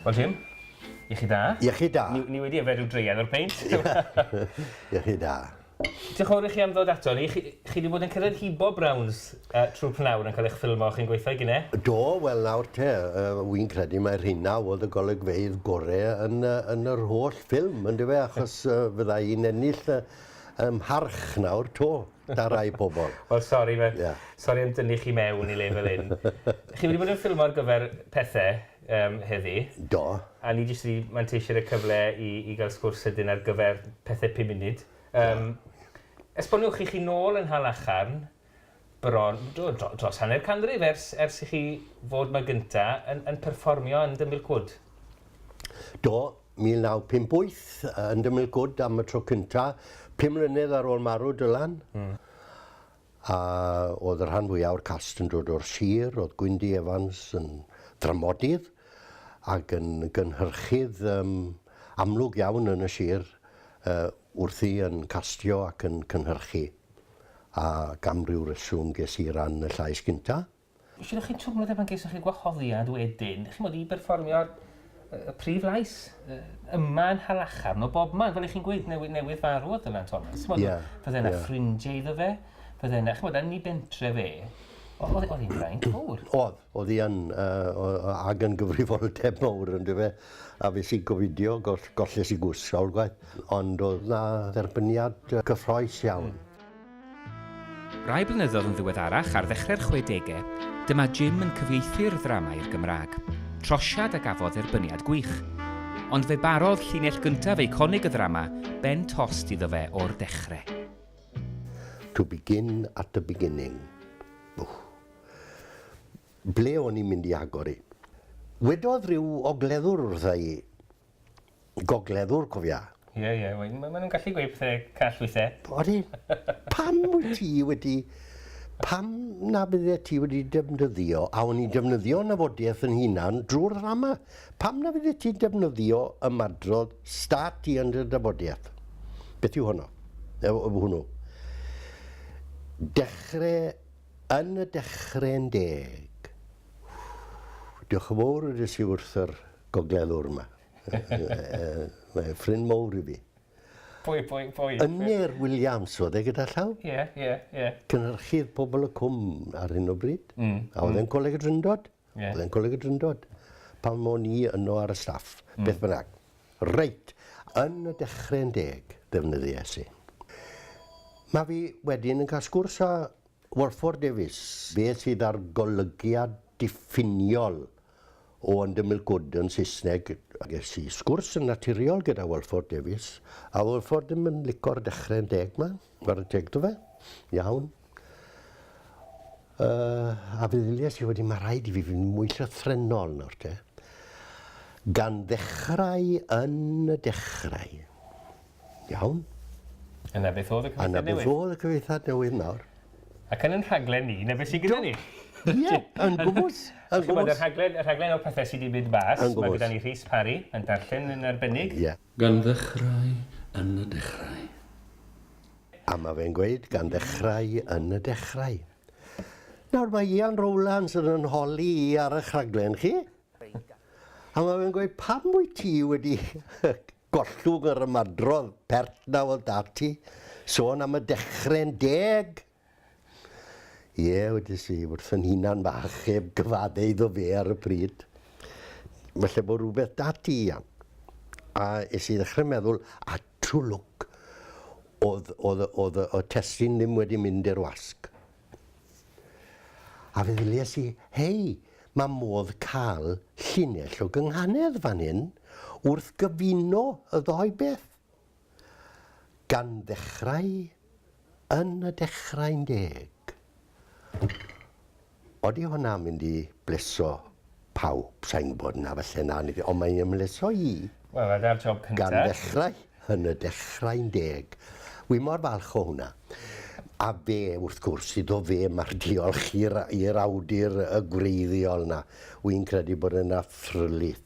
Wel Jim, iechyd da. Iechyd da. Ni, ni wedi yfed rhyw dreian o'r peint. iechyd da. Diolch yn fawr i chi am ddod ato ni. Chi, chi wedi bod yn cyrraedd hibo Browns uh, trwy pnawr yn cael eich ffilmo chi'n gweithio i gyne? Do, wel nawr te, uh, wy'n credu mae'r hynna oedd y golygfeidd gorau yn, uh, yn yr holl ffilm, yn dyfe, achos uh, fydda i'n ennill uh, Ym mharch nawr 'to, 'da rai pobl. Wel sori fe- Ie. Sori am dynnu chi mewn i le fel 'yn. Chi wedi bod yn ffilmo ar gyfer pethe yym heddi. Do. A ni jyst wedi manteisio ar y cyfle i i ga'l sgwrs sydyn ar gyfer pethe pum munud. Yym. Esboniwch, 'ych chi nôl yn Nhal Acharn? bron dros hanner canrif ers ers i chi fod 'ma gynta' yn yn perfformio yn The Milk Wood. Do, 1958 yn The Milk Wood am y tro cynta', pum mlynedd ar ôl marw Dylan. Hmm. A o'dd y rhan fwya' o'r cast yn dod o'r sir, o'dd Gwyndy Evans yn ddramodydd ag yn gynhyrchydd yym amlwg iawn yn y sir yy wrthi yn castio ac yn cynhyrchu. ac am ryw reswm ges i ran y llais gynta. Felly o'ch chi'n twmlo dim ond gesoch chi wahoddiad wedyn, ch'mod, i berfformio'r y prif lais yy yma yn Nhalachar, no bobman, fel 'ych chi'n gweud, newydd newydd farw oedd Dylan Thomas, ch'mod... Ie, ie. ...fydde 'na ffrindie iddo fe, fydde 'na, ch'mod, yn 'i bentre fe, o'dd o'dd 'i'n fraint fowr. O'dd. Oedd hi yn, ac yn gyfrifoldeb mawr yndyfe fe, a fues i'n gofidio, golles i gwrs sawl gwaith, ond oedd 'na dderbyniad cyffrous iawn. Rai blynyddoedd yn ddiweddarach, ar ddechrau'r chwedegau, dyma Jim yn cyfieithu'r ddrama i'r Gymraeg, trosiad a gafodd dderbyniad gwych. Ond fe barodd llinell gyntaf eiconig y ddrama ben tost iddo fe o'r dechrau. To begin at the beginning. Wff. Ble o'n i'n mynd i agor i? Wedodd rhyw ogleddwr wrtha i, gogleddwr cofia. Ie, ie, wel ma' ma' nhw'n gallu gweud pethe call weithie. Odi. Pam wyt ti wedi... Pam na fyddet ti wedi defnyddio, a o'n i'n defnyddio nyfodieth yn hunan drwy'r ddrama, pam na fyddet ti'n defnyddio ymadrodd start ti yn dy dyfodieth? Beth yw honno? Yy hwnnw. Dechre Yn y dechre'n deg. Diolch yn fowr wedes i wrth yr gogleddwr 'ma. Mae e'n ffrind mowr i fi. Pwy, pwy, pwy? Ynyr Williams oedd e gyda llaw. Ie, ie, ie. Cynhyrchydd Pobol y Cwm ar hyn o bryd. Mm. A oedd e'n mm. Coleg y Drindod. Ie. O'dd e'n Coleg y Drindod. Pan o'n i yno ar y staff. Hmm. Beth bynnag. Reit, yn y dechre'n deg defnyddies i. Ma' fi wedyn yn cael sgwrs â Walford Davies, fe sydd â'r golygiad diffiniol o yn dymil gwd yn Saesneg. Ges i sgwrs yn naturiol gyda Walford Davies, a Walford ddim yn lico'r dechre'n deg 'ma, chware teg 'da fe, iawn. Uh, a feddyliais i wedi mae rhaid i fi fynd mwy llythrenol nawr te. Gan ddechrau yn y dechrau. Iawn? A na beth oedd y cyfeithiad newydd? A na beth oedd y cyfeithiad newydd nawr? Ac yn yn rhaglen ni, na beth sy'n gyda ni? Ie, yn gwmwys. Yn gwmwys. Y rhaglen, y rhaglen o'r pethau sydd wedi mynd bas, mae gyda ni Rhys Parry yn darllen yn arbennig. Ie. Gan ddechrau yn y dechrau. A mae fe'n gweud, gan ddechrau yn y dechrau. Nawr mae Ian Rowlands yn yn holi i ar eich rhaglen chi. A mae fe'n gweud, pam wyt ti wedi gollwng yr ymadrodd pert na oedd 'da ti? Sôn am y dechrau'n deg! Ie, wedes i, wrth fy nhunan bach, heb gyfadde iddo fe ar y pryd. Falle bod rhywbeth 'da ti, Ian. A es i ddechrau meddwl, a true look, oedd, oedd, oedd y testun ddim wedi mynd i'r wasg. A fe ddilies i, hei, mae modd cael llinell o gynghanedd fan hyn wrth gyfuno y ddou beth. Gan ddechrau yn y dechrau'n deg. Odi hwnna'n mynd i bleso pawb? Sa i'n gwybod, na falle na, ond mae'n ymhleso i. Wel, a dyna'r job cyntaf. Gan ddechrau yn y dechrau'n deg. Wi mor falch o hwnna. A fe, wrth gwrs, iddo fe mae'r diolch i'r awdur gwreiddiol 'na. Wi'n credu bod yna ffrlyth